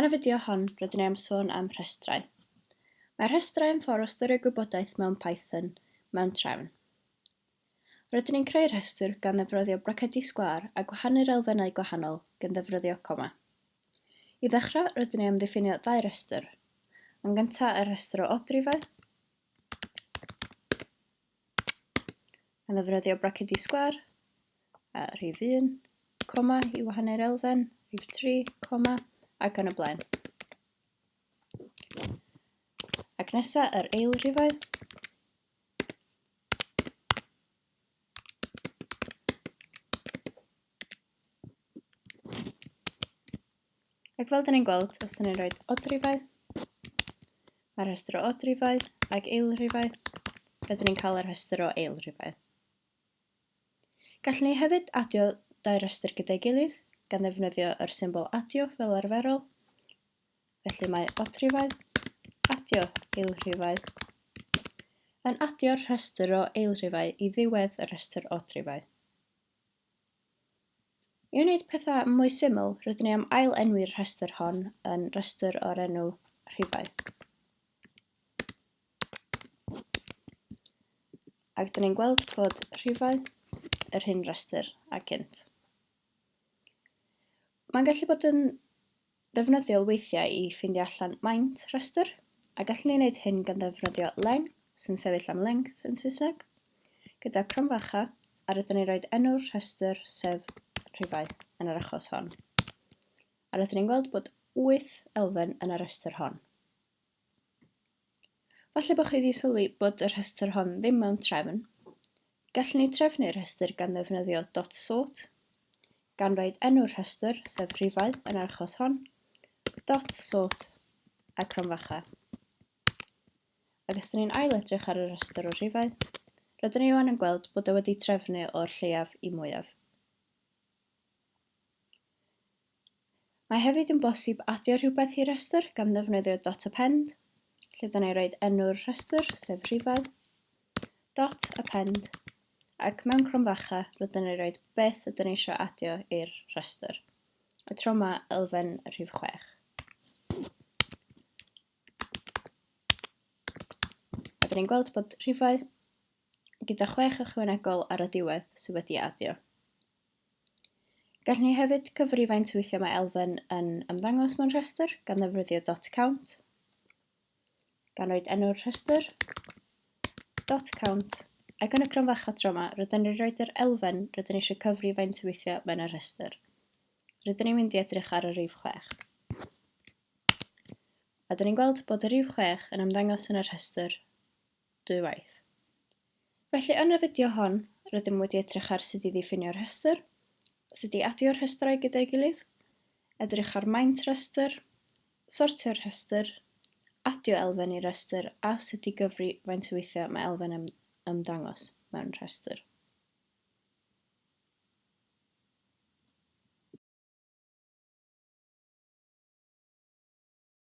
Yn y fideo hon, rydyn ni am sôn am rhestrau. Mae rhestrau yn ffordd o ystyried gwybodaeth mewn Python mewn trefn. Rydyn ni'n creu rhestr gan ddefryddio bracedi sgwâr a gwahanu'r elfennau gwahanol gan ddefryddio coma. I ddechrau, rydyn ni am ddiffinio ddau restr. Yn gyntaf, y rhestr o odrifau, yn ddefnyddio bracedi sgwâr, a rhif 1, coma i wahanu'r elfen, rhif 3, coma, ac yn y blaen. Ac nesa yr eil rhifau. Ac fel dyn ni'n gweld, os dyn ni'n rhoi odrifau, mae'r rhestr o odrifau ac eilrifau, rydyn ni'n cael y rhestr o eilrifau. Gallwn ni hefyd adio dau rhestr gyda'i gilydd gan ddefnyddio yr symbol adio fel arferol. Felly mae odrifau, adio eilrifau, yn adio'r rhestr o eilrifau i ddiwedd y rhestr odrifau. I wneud pethau mwy syml, rydyn ni am ail-enwi'r rhestr hon yn rhestr o'r enw rhifau. Ac dyn ni'n gweld bod rhifau yr hyn rhestr a gynt. Mae'n gallu bod yn ddefnyddiol weithiau i ffeindio allan maint rhestr, a gallwn ni wneud hyn gan ddefnyddio len, sy'n sefyll am length yn Saesneg, gyda cromfacha, a rydyn ni'n rhoi enw'r rhestr, sef rhifau yn yr achos hon. A rydyn ni'n gweld bod 8 elfen yn y rhestr hon. Falle bod chi wedi sylwi bod y rhestr hon ddim mewn trefn. Gallwn ni drefnu'r rhestr gan ddefnyddio dot sort, gan roed enw'r rhestr, sef rhifau yn yr achos hon, dot sort a cromfacha. Ac os dyn ni'n ail edrych ar y rhestr o rhifau, rydyn ni wan yn gweld bod e wedi trefnu o'r lleiaf i mwyaf. Mae hefyd yn bosib adio rhywbeth i restr gan ddefnyddio dot append, lle dyna i roed enw'r rhestr, sef rhifedd, dot append, ac mewn cromfacha rydyn ni'n rhoi beth ydyn ni eisiau adio i'r rhestr, y tro yma elfen rhif 6. Rydyn ni'n gweld bod rhifau gyda 6 ychwanegol ar y diwedd sydd wedi adio. Gall ni hefyd gyfri faint o weithiau mae elfen yn ymddangos mewn rhestr gan ddefnyddio dot count, gan roed enw'r rhestr, dot count, ac yn y cron fach adro yma, rydyn ni'n rhoi yr elfen rydyn ni eisiau cyfri faint o weithiau mae'n y rhestr. Rydyn ni'n mynd i edrych ar y rif 6. A dyn ni'n gweld bod y rif 6 yn ymddangos yn y rhestr dwywaith. Felly yn y fideo hon, rydym wedi edrych ar sut i ddiffinio rhestr, sut i adio rhestrau gyda'i gilydd, edrych ar maint rhestr, sortio rhestr, adio elfen i restr a sut i gyfri faint o weithiau mae elfen yn ymddangos mewn rhestr.